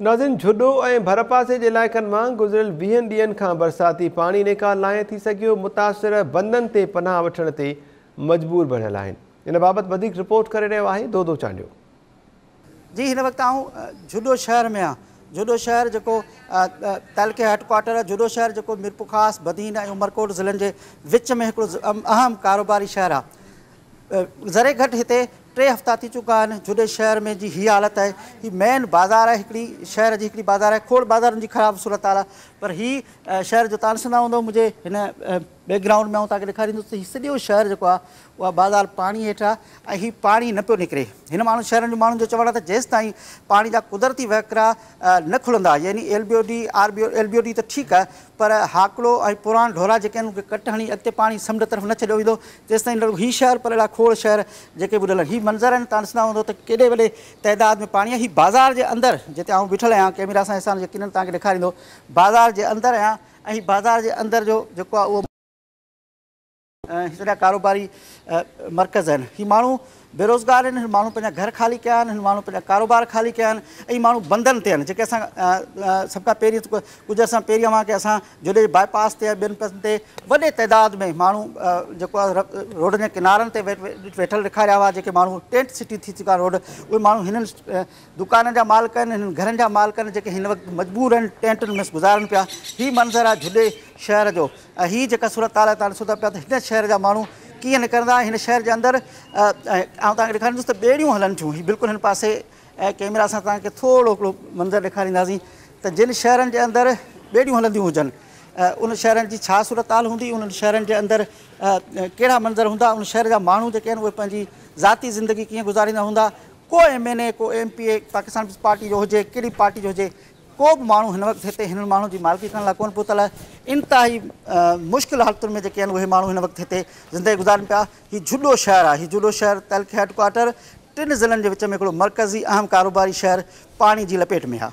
ناظرين جھڏو ۽ ڀرپاسي جي علائقن مان گذريل ويهن ڏينهن کان برساتي پاڻي نيڪال ناهي ٿي سگهيو، متاثر بندن تي پناهه وٺڻ تي مجبور بڻيل آهن، ان بابت وڌيڪ رپورٽ ڪري رهيو آهي دودو چانڊيو. جي هن وقت آئون جھڏو شهر ۾ آهيان جھڏو شهر جيڪو تعلقي هيڊ ڪوارٽر جھڏو شهر جيڪو ميرپورخاص، بدين ۽ عمرڪوٽ ضلعن جي وچ ۾ هڪڙو اهم ڪاروباري شهر آهي. ذري گهٽ هتي ٽي هفتا ٿي چڪا آهن جهڏي شهر ۾ جي هي حالت آهي هي مين بازار آهي هڪڙي شهر جي هڪڙي بازار آهي کوڙ بازارن جي خراب صورت حال آهي پر هي شهر جو تان ڏسندا هوندو منهنجي هن بيڪ گرائونڊ ۾ آئون توهان کي ڏيکاريندس ته هي سڄو شهر جيڪو آهي اها بازار پاڻي هيٺ آهي ۽ هي پاڻي نه پيو نڪري هن ماڻهن شهرن جي ماڻهن جو چوڻ آهي ته جيستائين پاڻي جا قدرتي وهڪرا نه کلندا يعني L B O D R B O L B O D ته ٺيڪ آهي پر هاڪڙو ۽ پراڻ ڍورا جيڪي آهن ان کي ڪٽ هڻي اڳتي پاڻي سمنڊ طرف نه ڇڏيو ويندو تيستائين رڳو هي شهر پر اهڙا کوڙ شهر جيڪي ٻڏل آهن هي منظر آهن تان ڏسندا هوندو ته ڪيڏي وڏي تعداد ۾ پاڻي آهي هي بازار جي اندر جتي آئون بيٺل آهيان ڪئميرا سان احسان يقينن توهان کي ڏيکاريندو بازار جي اندر آهيان ۽ هي بازار جي اندر جو جيڪو آهي اهو هي سڄا ڪاروباري مرڪز آهن. هي ماڻهو بيروزگار آهن. هن ماڻهن پنهنجا گهر خالي ڪيا آهن. هن ماڻهن پنهنجا ڪاروبار خالي ڪيا آهن. اهي ماڻهو بندن تي آهن. جيڪي اسان سڀ کان پهرين ڪجهه عرصن پهرين اوهان کي اسان جوڏيجي باء پاس تي ۽ ٻين پاسن تي وڏي تعداد ۾ ماڻهو جيڪو آهي روڊن جي ڪنارن تي ويٺل ڏيکاريا هئا. جيڪي ماڻهو ٽينٽ سٽي ٿي چڪا روڊ اهي ماڻهو هنن دڪانن جا مالڪ آهن هنن گهرن جا مالڪ آهن جيڪي هن وقت مجبور آهن ٽينٽن ۾ گذارن پيا هي منظر آهي جھڏي شهر جو ۽ هي جيڪا صورتحال آهي توهان ڏسو ٿا پيا ته هن شهر جا ماڻهو ڪيئن نڪرندا هن شهر جي اندر آئون توهان کي ڏيکاريندس ته ٻيڙيون هلن ٿيون هي بلڪل هن پاسي ۽ ڪيمرا سان توهان کي ٿورو هڪڙو منظر ڏيکارينداسين ته جن شهرن جي اندر ٻيڙيون هلنديون هجن ان شهرن جي ڇا صورتحال هوندي انهن شهرن جي اندر ڪهڙا منظر هوندا ان شهر جا ماڻهو جيڪي آهن اهي پنهنجي ذاتي زندگي ڪيئن گذاريندا هوندا ڪو ايم اين اي ڪو M P A Pakistan Peoples Party جو هجي ڪهڙي پارٽي جو هجي ڪو به ماڻهو هن وقت هتي هنن ماڻهن جي مالڪي ڪرڻ لاء ڪونه پهتل آهي انتهائي مشڪل حالتن ۾ جيڪي آهن اهي ماڻهو هن وقت هتي زندگي گذارين پيا هي جهڏو شهر آهي هي جهڏو شهر تعلقي هيڊ ڪوارٽر ٽن ضلعن جي وچ ۾ هڪڙو مرڪزي اهم ڪاروباري شهر پاڻي جي لپيٽ ۾ آهي.